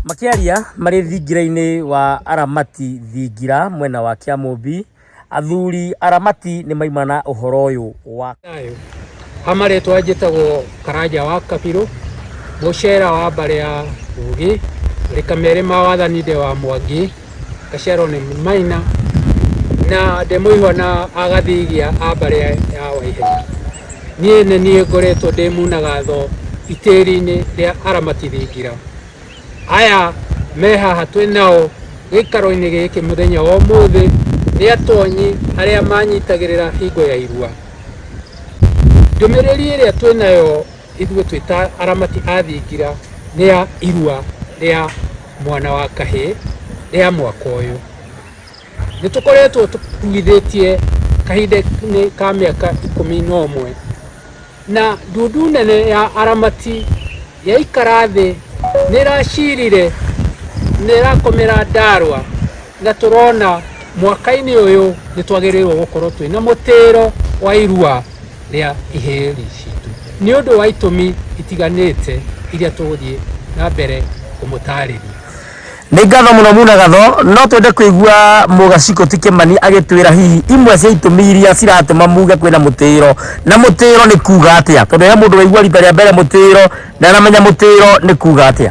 Makĩaria marĩ thingira-inĩ wa Aramati thingira mwena wa Kĩamũmbi, athuri Aramati nĩ maima na ũhoro ũyũ wa ha marĩtwa njĩtagwo Karanja wa Kabirũ, Mũcera wa mbarĩ ya Ũgĩ, Rĩkamerĩ ma wathani ndĩ wa Mwangi. gaciarwo nĩ maina na ndĩ mũihwa na agathigia a mbarĩ ya ya waihenya niĩ nĩ niĩ ngoretwo ndĩ munagatho itĩri-inĩ rĩa aramati thingira aya me haha twĩ nao gĩikaro-inĩ gĩkĩ mũthenya wa ũmũthĩ nĩ atonyi arĩa manyitagĩrĩra hingo ya irua ndũmĩrĩri ĩrĩa twĩ nayo Ithuĩ twĩ ta aramati a thingira nĩ ya irua rĩa mwana wa kahĩ rĩa mwaka ũyũ. Nĩ tũkoretwo tũkuithĩtie kahinda-inĩ ka mĩaka ikũmi na ũmwe, na ndundu nene ya aramati yaikara thĩ nĩ ĩracirire, nĩ ĩrakomera Ndarwa na tũrona mwaka-inĩ ũyũ nĩ twagĩrĩirwo gũkorwo twĩ na mũtĩro wa irua rĩa iheri citũ nĩ ũndũ wa itũmi itiganĩte iria tũgũthiĩ na mbere kũmũtarĩria nĩ ngatho mũno muna gatho no twende kũigua mũgaciko ti kĩmani agĩtwĩra hihi imwe cia itũmi iria ciratũma muge kwĩna mũtĩro na mũtĩro nĩ kuga atĩa tondũ he mũndũ waigua rita rĩa mbere mũtĩro ndanamenya mũtĩro nĩ kuga atĩa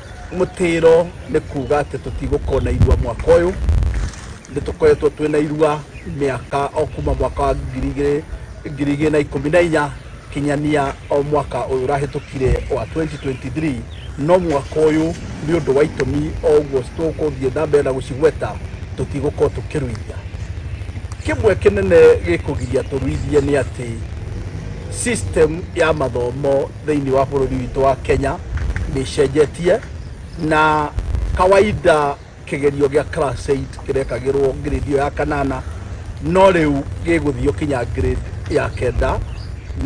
mũtĩro nĩ kuga atĩ tũtigũkorwo na irua mwaka ũyũ nĩ tũkoretwo twĩ na irua mĩaka o kuma mwaka wa ngiri igĩrĩ- ngiri igĩrĩ na ikũmi na inya kinyania o mwaka ũyũ ũrahĩtũkire wa 2023 no mwaka ũyũ nĩ ũndũ wa itũmi o ũguo tũgũthiĩ na mbere na gũcigweta tũtigũkorwo tũkĩruithia kĩmwe kĩnene gĩkũgiria tũruithie nĩ atĩ system ya mathomo thĩinĩ wa bũrũri witũ wa Kenya nĩ ĩcenjetie na kawaida kĩgerio gĩa class 8 kĩrekagĩrwo grade ĩyo ya kanana no rĩu gĩgũthio kinya grade ya kenda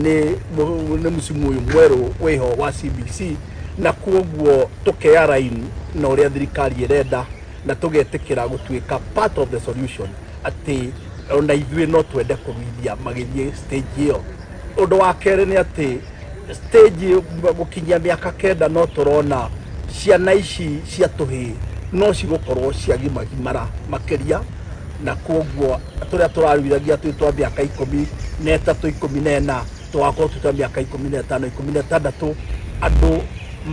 nĩ mu- nĩ msimu ũyũ mwerũ wĩho wa CBC na kuoguo tũkeya raini na ũrĩa thirikari ĩrenda na tũgetĩkĩra gũtuĩka part of the solution atĩ ona ithuĩ no twende kũruithia magĩthiĩ stage ĩyo Ũndũ wa kerĩ nĩ atĩ stage gũkinyia mĩaka kenda no tũrona ciana ici cia tũhĩĩ no cigũkorwo ciagimagimara makĩria na koguo tũrĩa tũraruithagia twĩ twa mĩaka ikũmi na ĩtatũ ikũmi na ĩna tũgakorwo twĩ twa mĩaka ikũmi na ĩtano ikũmi na ĩtandatũ andũ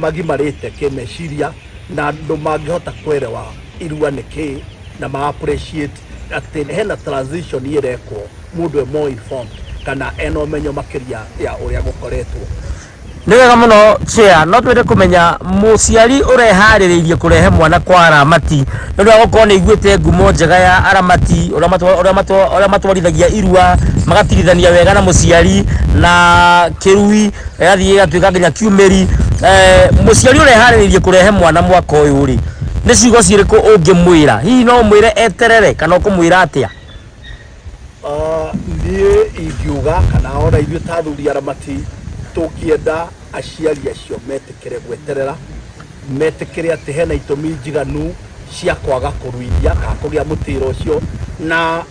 magimarĩte kĩmeciria na andũ mangĩhota kwerewa irua nĩ kĩĩ na ma appreciate atĩ hena transition ĩrekwo mũndũ e more informed kana ena ũmenyo makĩria ya ũrĩa gũkoretwo nĩ wega mũno chair no twende kũmenya mũciari ũreharĩrĩirie kũrehe mwana kwa aramati nĩ ũndũ wa gũkorwo nĩ iguĩte ngumo njega ya aramati ũrĩa matwa- ũrĩa matwa- ũrĩa matwarithagia irua magatirithania wega na mũciari na kĩrui ĩgathiĩ ĩgatuĩka nginya kiumĩri Eh, mũciari ũreharĩrĩirie kũrehe mwana mwaka ũyũ rĩ nĩ ciugo cirĩkũ ũngĩmwĩra hihi no ũmwĩre eterere kana ũkũmwĩra atĩa Ah, niĩ ingiuga kana ona ithuĩ ta athuri aramati tũngĩenda aciari acio metĩkĩre gweterera metĩkĩre atĩ hena itũmi njiganu cia kwaga kũruithia kana kũgĩa mũtĩra ũcio na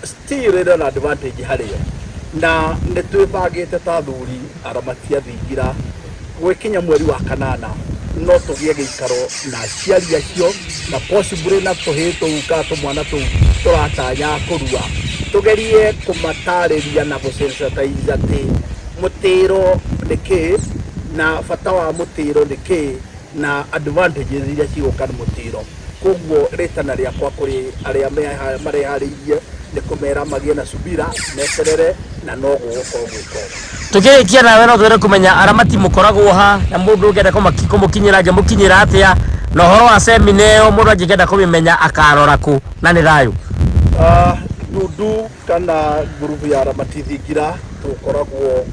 still ĩrĩ ona advantage harĩ o na nĩ twĩbangĩte ta athuri aramati athingira gwĩkinya mweri wa kanana no tũgĩe gĩikaro na aciari acio na possibly na tũhĩ tũu ka tũmwana tũu tũratanya kũrua tũgerie kũmatarĩria na gũsensitize atĩ mũtĩro nĩ kĩĩ na bata wa mũtĩro nĩ kĩĩ na advantages iria cigũka nĩ mũtĩro Kwoguo rĩtana rĩakwa kũrĩ arĩa meha- mareharĩirie nĩ kũmera magĩe na subira, meterere, na no gũgũkorwo gwĩ kwega. Tũkĩrĩkia nawe no twende kũmenya aramati mũkoragwo ha na mũndũ ũngĩenda kũmaki- kũmũkinyĩra angĩmũkinyĩra atĩa, na ũhoro wa semina ĩyo mũndũ angĩkenda kũmĩmenya akarora kũ, na nĩ thayũ. Ah, Ndundu kana ngurubu ya Ramati Thingira tũkoragwo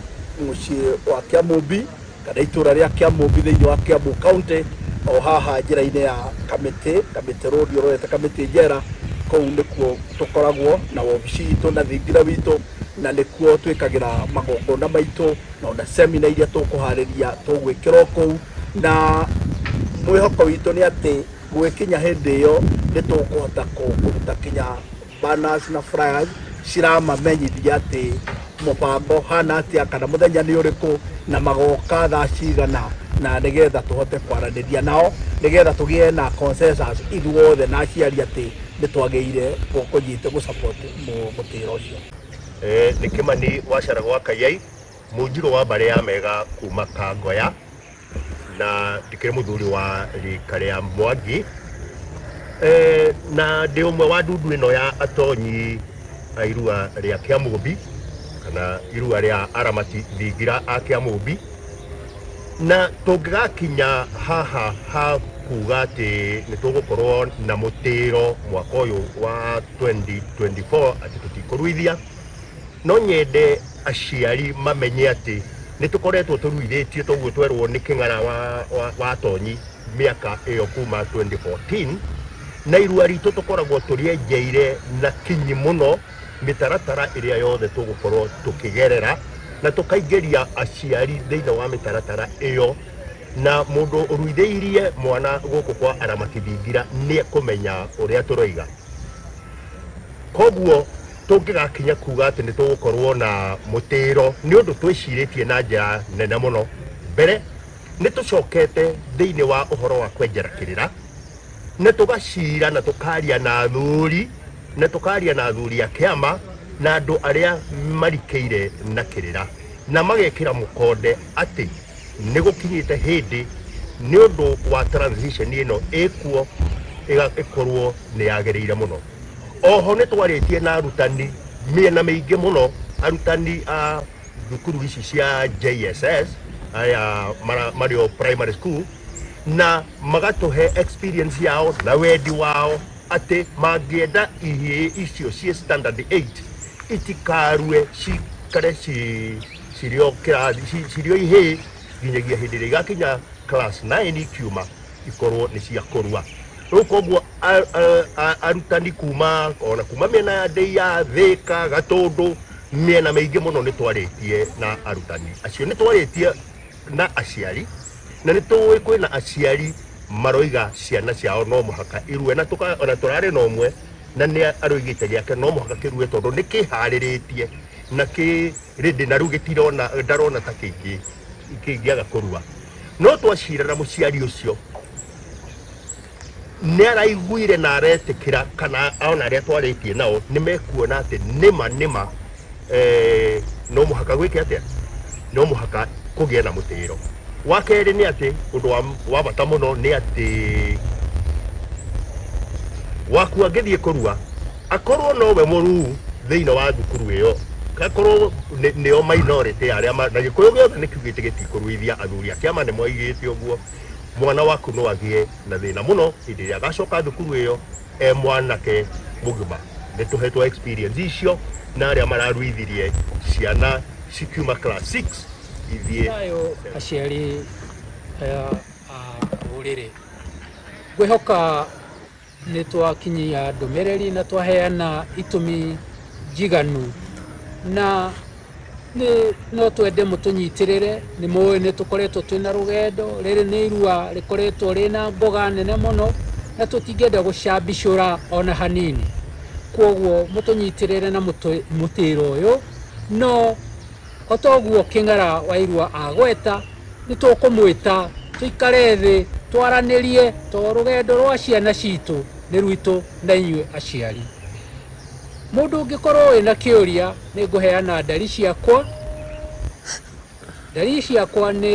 mũciĩ wa Kĩamũmbi. kana itũra rĩa Kĩamũmbi thĩinĩ wa Kiambu County, o haha njĩra-inĩ ya Kamĩtĩ, Kamĩtĩ Road ũrorete Kamĩtĩ Njera, kũu nĩkuo tũkoragwo na wobici itũ na thingira witũ, na nĩkuo twĩkagĩra magongona maitũ, na ona seminar iria tũkũharĩria tũgwĩkĩra o kũu, na mwĩhoko witũ nĩ atĩ gũgĩkinya hĩndĩ ĩyo nĩ tũkũhota kũruta kinya Banas na Flyers ciramamenyithia atĩ mũbango hana atĩa kana mũthenya nĩ ũrĩkũ na magoka thaa cigana na nĩgetha tũhote kwaranĩria nao nĩgetha tũgĩe na consensus ithuothe na aciari atĩ nĩ twagĩire kũnyita gũsupport mũtĩra ũcio nĩ kĩmani wacara gwa kayai mũnjirũ wa mbarĩ ya mega kuma kangoya na ndikĩrĩ mũthuri wa rika rĩa mwangi Eh, na ndĩ ũmwe wa ndundu ĩno ya atonyi a irua rĩa kĩamũmbi kana irua rĩa aramati thingira a kĩamũmbi na tũngĩgakinya haha ha kuga atĩ nĩ tũgũkorwo na mũtĩro mwaka ũyũ wa 2024 atĩ tũtikũruithia No nyende aciari mamenye atĩ nĩ tũkoretwo tũruithĩtio toguo twerwo nĩ kĩng'ara wa, wa, wa Tonyi mĩaka ĩyo kuma 2014 na irua ritũ tũkoragwo tũrĩenjeire na kinyi mũno mĩtaratara ĩrĩa yothe tũgũkorwo tũkĩgerera na tũkaingĩria aciari thĩinĩ wa mĩtaratara ĩyo na mũndũ ũruithĩirie mwana gũkũ kwa arama kĩthingira nĩ ekũmenya ũrĩa tũroiga koguo tũngĩgakinya kuga atĩ nĩ tũgũkorwo na mũtĩĩro nĩ ũndũ twĩcirĩtie na njĩra nene mũno mbere nĩ tũcokete thĩinĩ wa ũhoro wa kwenjera kĩrĩra na tũgacira na tũkaria na athuri na tũkaria na athuri a kĩama na andũ arĩa marikĩire na kĩrĩra na magekĩra mũkonde atĩ nĩ gũkinyĩte hĩndĩ nĩ ũndũ wa transition ĩno ĩkuo ĩga- ĩkorwo nĩ yagĩrĩire mũno oho nä twarä tie na arutani mä na mä ingä må no arutani a thukuru ici cia jss aya mara- marä o primary school na magatå he experience yao na wendi wao atä mangä enda ihä icio ciä standard 8 itikarue cikare ci- cirĩ o kĩrathi ci- cirĩ o ihĩĩ nginyagia hĩndĩ ĩrĩa igakinya class 9 ikiuma ikorwo nĩ cia kũrua rĩu koguo a- a- a- arutani kuma ona kuma mĩena ya ndĩia thĩka gatũndũ mĩena mĩingĩ mũno nĩ twarĩtie na arutani acio nĩ twarĩtie na aciari na nĩ tũĩ kwĩna aciari maroiga ciana ciao no mũhaka irue na tũka- ona tũrarĩ na ũmwe na nĩ aroigĩte gĩake no mũhaka kĩrue tondũ nĩ kĩharĩrĩtie na kĩ rĩndĩ na rĩu gĩtirona ndarona ta kĩngĩ kĩngĩaga kũrua no twacirana mũciari ũcio nĩ araiguire na aretĩkĩra kana ona arĩa twarĩtie nao nĩ mekuona atĩ nĩma nĩma eh, no mũhaka gwĩke atĩa no mũhaka kũgĩa na mũtĩĩro wa kerĩ nĩ atĩ ũndũ wa, wa bata mũno nĩ atĩ waku angĩthiĩ kũrua Akorwo no we mũruu thĩinĩ wa thukuru ĩyo, akorwo nĩ- nĩo minority ya arĩa ma- na gĩkũyũ gĩothe nĩ kiugĩte gĩtikũruithia athuri a kĩama nĩ moigĩte ũguo mwana waku no agĩe na thĩna mũno hĩndĩ ĩrĩa agacoka thukuru ĩyo e mwanake mũgima nĩ tũhetwo experience icio na arĩa mararuithirie ciana cikiuma class 6 ithiĩ Thayũ aciari aya a rũrĩrĩ ngwĩhoka Nĩ twakinyia ndũmĩrĩri na twaheana itũmi njiganu na nĩ no twende mũtũnyitĩrĩre nĩ mũĩ nĩ tũkoretwo twĩ na rũgendo rĩrĩ nĩ irua rĩkoretwo rĩ na mboga nene mũno na tũtingĩenda gũcambicũra ona hanini kwoguo mũtũnyitĩrĩre na mũtĩro ũyũ no O ta ũguo Kĩng'ara wa Irua agweta, nĩ tũkũmwĩta tũikare thĩ twaranĩrie tondũ rũgendo rwa ciana citũ nĩ rwitũ na inyuĩ aciari. Mũndũ ũngĩkorwo wĩna kĩũria nĩ ngũheana ndari ciakwa. Ndari ciakwa nĩ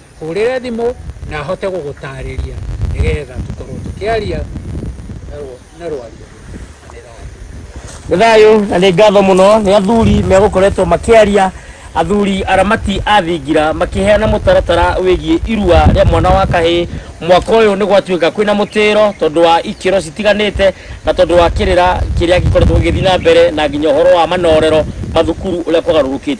hũrĩre thimũ na ahote gũgũtarĩria nĩgetha tũkorwo tũkĩaria na rwario nĩ thayũ na nĩ ngatho mũno nĩ athuri megũkoretwo makĩaria athuri aramati a thingira makĩheana mũtaratara wĩgiĩ irua rĩa mwana wa kahĩ mwaka ũyũ nĩ gwatuĩka kwĩna mũtĩro tondũ wa ikĩro citiganĩte na tondũ wa kĩrĩra kĩrĩa gĩkoretwo gĩgĩthiĩ na mbere na nginya ũhoro wa manorero mathukuru ũrĩa kwagarũrũkĩte